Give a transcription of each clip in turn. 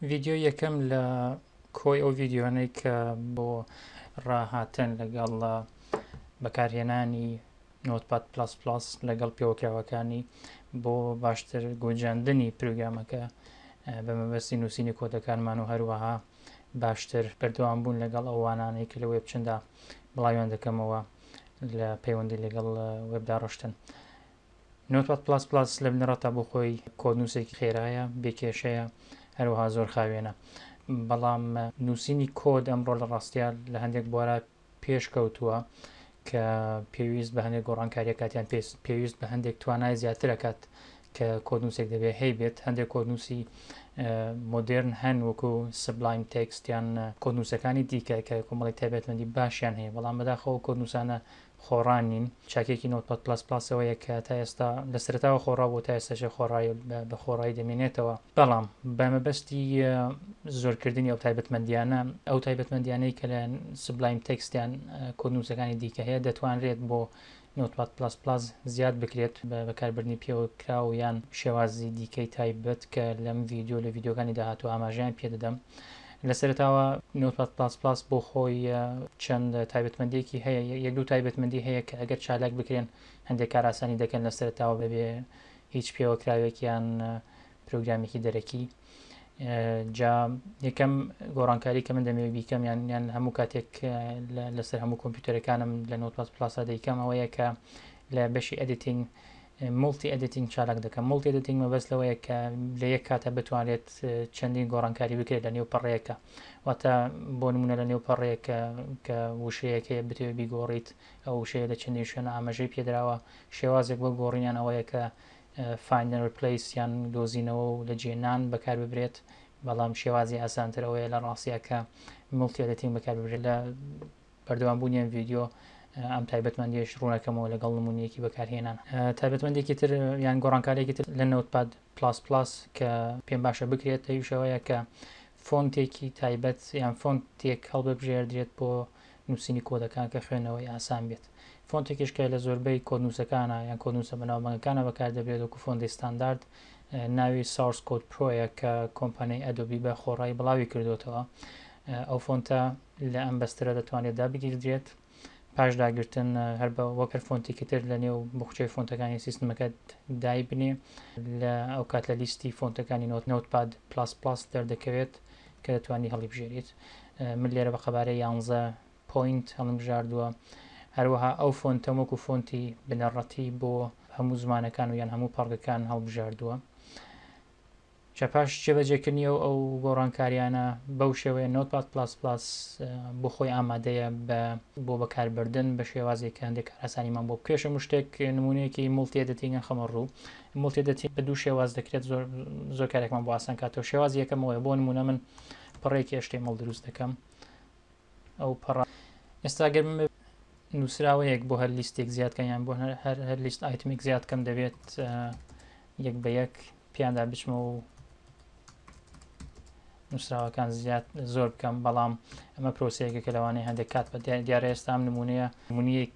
ڤیدیۆی یەکەم لە کۆی ئەو ڤیددیوانەی کە بۆ ڕاهاتن لەگەڵ بەکارهێنانی نۆتپات پلاس پلاس لەگەڵ پێوەکراوەکانی بۆ باشتر گۆجاندنی پروگرامەکە بە مەبەستی نووسینی کۆدەکانمان و هەروەها باشتر بەردەوام بوون لەگەڵ ئەوانانەی کە لە وێب چندا بڵاویان دەکەمەوە لە پەیوەندی لەگەڵ وێبدا ڕشتن نۆتپاد پڵاس پڵاس لە بنەڕەتدا بۆ خۆی کۆدنووسێکی خێرایە، بێ کێشەیە، هەروەها زۆر خاوێنە. بەڵام نووسینی کۆد ئەمڕۆ لە ڕاستیا لە هەندێک بوارا پێش کەوتووە کە پێویست بە هەندێک گۆڕانکاریە کاتیان پێویست بە هەندێک توانای زیاترەکات کە کۆدنووسێک دەبێت هەی بێت هەندێک کۆدنووسی مۆدررن هەن وەکو سبلایم تێکستیان کۆنووسەکانی دیکە کە کۆمەڵی تایبەتمەندی باشیان هەیە بەڵام بەداخەوە کۆنووسانە خۆڕا نین. چاکێکی نۆتپاد پڵەس پڵەس ئەوەیە کە تا ئێستا لە سەرەتاوە خۆڕا بوو تا ئێستاشێ خۆڕایە و بە خۆڕایی دەمێنێتەوە. بەڵام بە مەبەستی زۆرکردنی ئەو تایبەتمەندییانە، ئەو تایبەتمەندییانەی کە لە سبلایم تێکست یان کۆدنووسەکانی دیکە هەیە دەتوانرێت بۆ نۆتپاد پڵەس پڵەس زیاد بکرێت بە بەکاربردنی پێوەکراو یان شێوازی دیکەی تایبەت کە لەم ڤیدیۆ و لە ڤیدیۆکانی داهاتوو ئاماژەیان پێ دەدەم. لە سەرەتاوە نۆتپاد پڵاس پڵاس بۆ خۆی چەند تایبەتمەندیەکی هەیە یەک دوو تایبەتمەندی هەیە کە ئەگەر چالاک بکرێن هەندێک کار ئاسانی دەکەن لە سەرەتاوە بەبێ هیچ پێوەکراوێک یان پرۆگرامیکی دەرەکی جا یەکەم گۆڕانکاری کە من دەمەوێت بیکەم یان یان هەموو کاتێک لەسەر هەموو کۆمپیوتەرەکانم لە نۆتپاد پلاسا دەیکەم ئەوەیە کە لە بەشی ئەدیتین مولتی ئێدیتینگ چالاک دەکەم، مولتی ئێدیتینگ مەبەست لەوەیە کە لە یەک کاتا بتوانرێت چەندین گۆڕانکاری بکرێت لە نێو پەڕەیەکا واتە بۆ نموونە لە نێو پەڕەیەک کە وشەیەک هەیە بتەوێت بیگۆڕیت ئەو وشەیە لە چەندین شوێنە ئاماژەی پێدراوە شێوازێک بۆ گۆڕینیان ئەوەیە کە Find and Replace یان دۆزینەوە و لە جێ نان بەکار ببرێت بەڵام شێوازی ئاسانتر ئەوەیە لە ڕاستیەکە مولتی ئێدیتینگ بەکار ببرێت لە بەردەوام بوونی ئەم ڤیدیۆ ئەم تایبەتمەندیش ڕوونەکەمەوە لەگەڵ نمونونیەکی بەکارهێنان تایبەتمەندێکی تر یان گۆڕانکارێکی تر لە نەوتپاد پلاس پلاس کە پێم باشە بکرێت تەویشەوەیە کە فۆنتێکی تایبەت یان فۆنت تێک هەڵببژێردرێت بۆ نووسینی کۆدەکان کە خوێنەوەی ئاسان بێت فۆنتێکیشکە لە زۆربەی کۆنووسەکانە یان کۆنووسە بەناوبەنگەکانە بەکار دەبێت وەکو فۆندی ستاندارد ناوی ساورس کۆد پرۆیە کە کۆمپانیای ئەدۆبی بە خۆڕایی بڵاوی کردوێتەوە ئەو فۆنتە لە ئەم بەسترە دەتوانێت دابگیردرێت پاش داگرتن هەر بە وەک هەر فۆنتێکی تر لە نێو بخچەی فۆنتەکانی سیستمەکەت دای بنێ لە ئەو کات لە لیستی فۆنتەکانی نۆت نوت پاد پلاس پلاس دەردەکەوێت کە دەتوانانی هەڵیبژێریت من لێرە بە قەبارە یانزە پوینت هەڵمژاردووە هەروەها ئەو فۆنتە وەکو فۆنتی بنەڕەتی بۆ هەموو زمانەکان و یان هەموو پەڕگەکان هەڵبژاردووە جا پاش جێبەجێکردنی ئەو ئەو گۆڕانکاریانە بەو شێوەیە نۆتپاد پڵاس پڵاس بۆ خۆی ئامادەیە بە بۆ بەکاربردن بە شێوازێک کە هەندێک کارئاسانیمان بۆ پێش هەموو شتێک نمونەیەکی مڵتی ئێدتینگم خەمە ڕوو مڵتی ئێدتینگ بە دوو شێواز دەکرێت زۆر زۆر کارێکمان بۆ ئاسان کاتەوە شێواز یەکەمەوەی بۆ نمونە من پەڕێکی ئێشتەی مڵ دروست دەکەم ئەو پەڕ ئێستا گەر من نووسراوەیەک بۆ هەر لیستێک زیادکەیان بۆ هەر هەر لیست ئایتمێک زیادکەم دەبێت یەک بە یەک پیاندا بچمە و نووسراوەکان زیاد زۆر بکەم بەڵام ئەمە پرۆسەیەکە کە لەوانەیە هەندێک کات بە دیارە ئێستا ئەم نمونەیە منیەک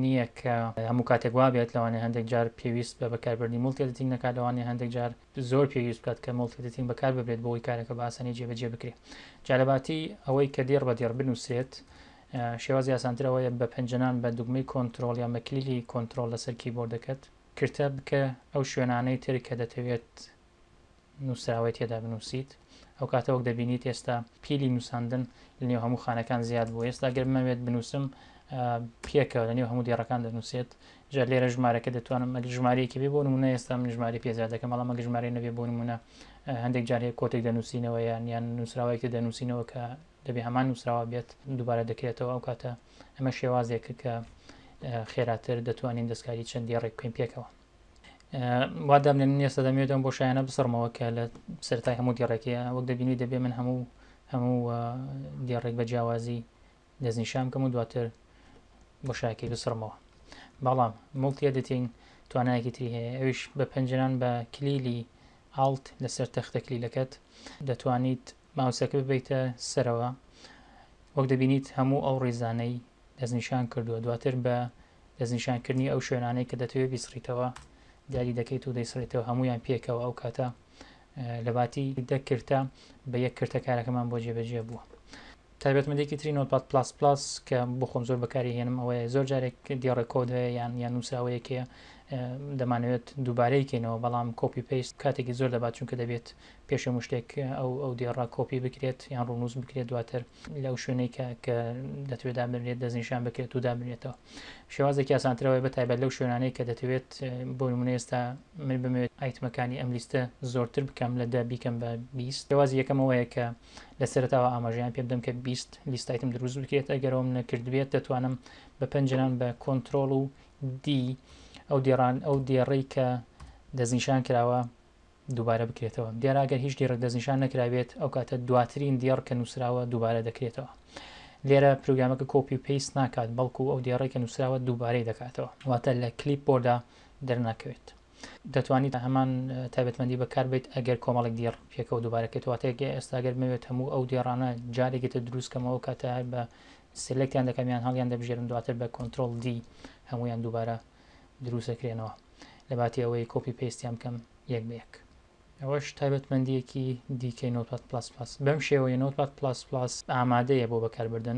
نییە کە هەموو کاتێک وا بێت لەوانێ هەندێک جار پێویست بە بەکاربردنی مڵتێتنگ نەکات لەوانێ هەندێک جار زۆر پێویست بکات کە مڵتێتنگ بەکار ببێت بۆی کارەکە باسەنی جێبەجێ بکرێت جالەباتی ئەوەی کە دێڕ بە دێڕ بنووسێت شێوازی ئاسانترەوەیە بە پنجەنان بە دوگمەی کۆنتترۆل یا مەکلیلی کۆنتترۆل لەسەر کیبۆردەکەت کرتە بکە ئەو شوێنانەی تر کە دەتەوێت نووسراوەی تێدا بنووسیت ئەو کاتە وەک دەبینیت ئێستا پیلی نووساندن لە نێو هەموو خانەکان زیاد بوو ئێستا گەر بمەوێت بنووسم پێکەوە لە نێو هەموو دێڕەکان دەنووسێت جا لێرە ژمارەکە دەتوانم ئەگە ژمارەیەکی بێ بۆ نمونە ئێستا من ژماری پێزیاد دەکەم بەڵام ئەگە ژمارە نەبێ بۆ نمونە هەندێک جار هەیە کۆتێک دەنووسینەوە یان یان نووسراوەیەکی دەنووسینەوە کە دەبێ هەمان نووسراوە بێت دووبارە دەکرێتەوە ئەو کاتە ئەمە شێوازێکە کە خێراتر دەتوانین دەستکاری چەند دێڕێک بکەین پێکەوە وا دەبنێن نێستا دەمێتەوە بۆ شایانە بسڕمەوە کە لە سەرای هەموو دێڕێکەیە وەک دەبینی دەبێ من هەموو هەموو دێڕێک بە جیاوازی دەستنیشان بکەم و دواتر بۆ شاکی بسڕمەوە بەڵام مڵتیە دەتین توانایەکی تری هەیە ئەوش بە پەنجران بە کلیلی ئاڵت لەسەر تەختە کلیلەکەت دەتوانیت ماوسەکە ببەیتە سەرەوە وەک دەبینیت هەموو ئەو ڕیزانەی دەستنیشان کردووە دواتر بە دەستنیشانکردنی ئەو شوێنانەی کە دەتەوێت بیسڕیتەوە دیاری دەکەیت و دەیسڕێتەوە هەمویان پێکەوە ئەو کاتە لەباتی دەکرتە بە یەک کرتە کارەکەمان بۆ جێبەجێ بووە. تایبەتمەندێکی تری نۆتپاد پلاس پلاس کە بۆ خۆم زۆر بەکاری هێنم ئەوەیە زۆر جارێک دیێڕێ کۆد هەیە یان یان نووسراوەیەکەیە دەمانەوێت دووبارەی کەینەوە بەڵام کۆپی پێست کاتێکی زۆر دەبات چونکە دەبێت پێش هەموو شتێک ئەو ئەو دێڕە کۆپی بکرێت یان ڕونووس بکرێت دواتر لەو شوێنەی کە کە دەتوێت دابنرێت دەستنیشان بکرێت و دابنرێتەوە شێوازێکی ئاسانترەوەی بەتایبەت لەو شوێنانەی کە دەتەوێت بۆ نمونە ئێستا من بمەوێت ئایتمەکانی ئەم لیستە زۆرتر بکەم لە دە بیکەم بە بیست شێوازی یەکەمەوەیە کە لە سەرتاوە ئاماژەیان پێ بدەم کە بیست لیستایتم دروست بکرێت ئەگەرەوەم نەکردبێت دەتوانم بە پەنجران بە کۆنتترۆل و دی ئەو دێڕان ئەو دێڕێی کە دەستنیشان کراوە دووبارە بکرێتەوە. دیارە ئەگەر هیچ دێڕێک دەستنیشان نەکرابێت، ئەو کاتە دواترین دێڕ کە نووسراوە دووبارە دەکرێتەوە. لێرە پرۆگرامەکە کۆپی و پەیست ناکات، بەڵکو ئەو دێڕەی کە نووسراوە دووبارەی دەکاتەوە، واتە لە کلیپ بۆردا دەرناکەوێت. دەتوانیت هەمان تایبەتمەندی بەکاربەیت ئەگەر کۆمەڵێک دێڕ پێکەوە دووبارە کرێتەوە، واتە ئێستا گەر بمەوێت هەموو ئەو دێڕانە جارێکی تر دروست کەمەوە، ئەو کاتە هەر بە سێلێکتیان دەکەم یان هەڵیان دەبژێرم، دواتر بە کۆنترۆڵ دی هەموویان دووبارە دروست دەکرێنەوە. لەباتی ئەوەی کۆپی پەیستیان بکەم یەک بە یەک. ئەوەش تایبەتمەندییەکی دیکەی نۆتپاد پڵەس پڵەس. بەم شێوەیە نۆتپاد پڵەس پڵەس ئامادەیە بۆ بەکاربردن.